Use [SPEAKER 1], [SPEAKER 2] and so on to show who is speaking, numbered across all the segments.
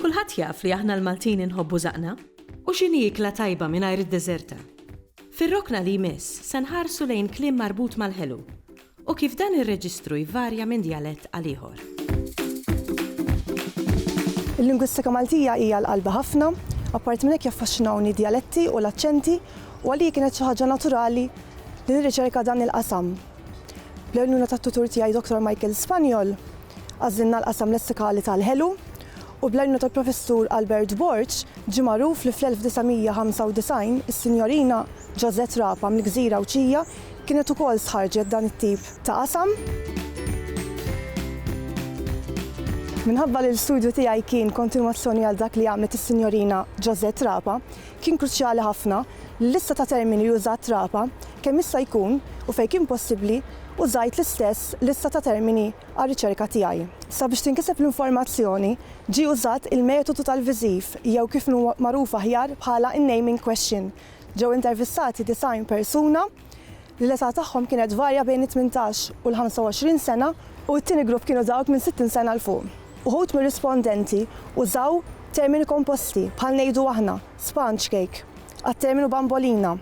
[SPEAKER 1] Kulħadd jaf li aħna l-Maltin inħobbu żaqna. U x'inhi ikla tajba mingħajr id-deżerta? Fir-rokna li jmiss se nħarsu lejn kliem marbut mal-ħelu u kif dan ir-reġistru jvarja minn djalett għal ieħor.
[SPEAKER 2] Il-lingwistika Maltija hija l-qalbi ħafna. Apparti minn hekk jaffaxxinawni d-djaletti u l-aċċenti u għalija kienet xi ħaġa naturali li nirriċerka dan il-qasam. Bl-għajnuna tat-tutur tiegħi Dottor Michael Spaniol, Għażilna l-qasam lessikali tal-ħelu, u bl-għajnuna tal-Professur Albert Borg, ġie magħruf li fl-1995 is-Sinjorina Josette Rapa mill-Gżira Għawdxija kienet ukoll stħarrġet dan it-tip ta' qasam. Minħabba li l-istudju tiegħi kien kontinwazzjoni għal dak li għamlet is-Sinjorina Josette Rapa, Kien kruċjali ħafna li l-lista ta' termini li użat Trapa, kemm jista' jkun u fejn kien possibbli, użajt l-istess lista ta' termini għar-riċerka tiegħi. Sabiex tinkiseb l-informazzjoni, ġie użat il-metodu tal-viżiv jew kif hu magħruf aħjar bħala n-naming question. Ġew intervistati 90 persuna. li l-età tagħhom kienet tvarja bejn it-tmintax u l-25 sena u t-tieni grupp kienu dawk minn 60 sena 'l fuq. Uħud mir-rispondenti użaw termini komposti bħal ngħidu aħna, sponge cake, għat-terminu bambolina,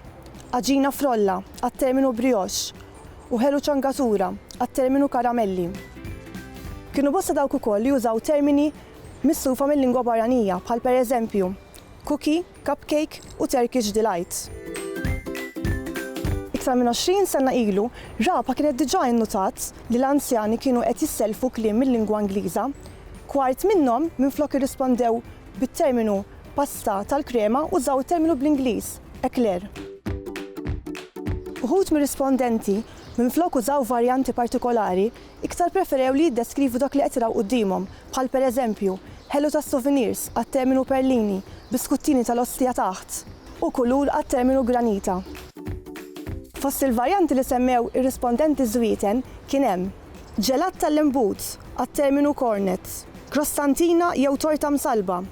[SPEAKER 2] għaġina frolla, għat-terminu brioche, u ħelu ċangatura, għat-terminu karamelli. Kienu bosta dawk ukoll li użaw termini mislufa mil-lingwa barranija bħal pereżempju, cookie, Cupcake u Turkish Delight. Iktar minn 20 sena ilu, Rabha kienet diġà innutat li l-anzjani kienu qed jissellfu kliem mil-lingwa Ingliża. Kwart minnhom, minflok irrispondew bit-terminu pasta tal-krema, użaw it-terminu bl-Ingliż, eclair. Uħud mir-rispondenti, minflok użaw varjanti partikolari, Iktar ppreferew li jiddeskrivu dak li qed jraw quddiemhom, bħal pereżempju, ħelu tas-souvenirs għat-terminu perlini, biskuttini tal-ostja taħt, u kulur għat-terminu granita. Fost il-varjanti li semmew ir-rispondenti żwieten kien hemm, ġelat tal-imbut għat-terminu cornet, krostantina jew torta msallba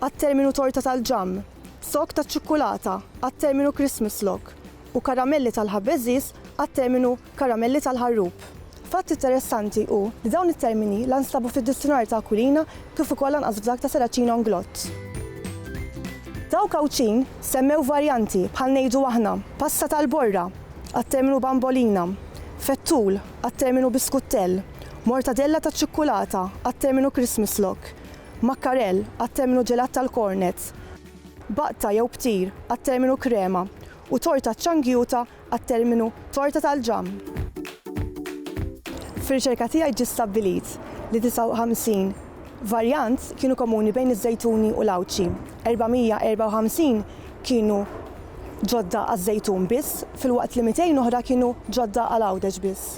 [SPEAKER 2] għat-terminu torta tal-ġamm, zokk taċ-ċukkulata għat-terminu Christmas log, u karamelli tal-ħabbeżiż għat-terminu karamelli tal-ħarrub. Fatt interessanti hu li dawn it-termini la nstabu fid-Dizzjunarju ta' Aquilina kif ukoll lanqas f'dak ta' Serracino Inglott. Dawk Għawdxin semmew varjanti bħal ngħidu aħna pasta tal-borra għat-terminu bambolina, fettul għat-terminu biskuttell, mortadella taċ-ċikkulata għat-terminu Christmas log, makkarell għat-terminu ġelat tal-kornet, baqta jew ptir għat-terminu krema u torta ċċangjuta għat-terminu torta tal-ġamm. Fir-riċerka tiegħi ġie stabbilit li 59 varjant kienu komuni bejn iż-żejtuni u l-għawdxi, 454 kienu ġodda għaż-żejtun biss filwaqt li 200 oħra kienu ġodda għal għawdex biss.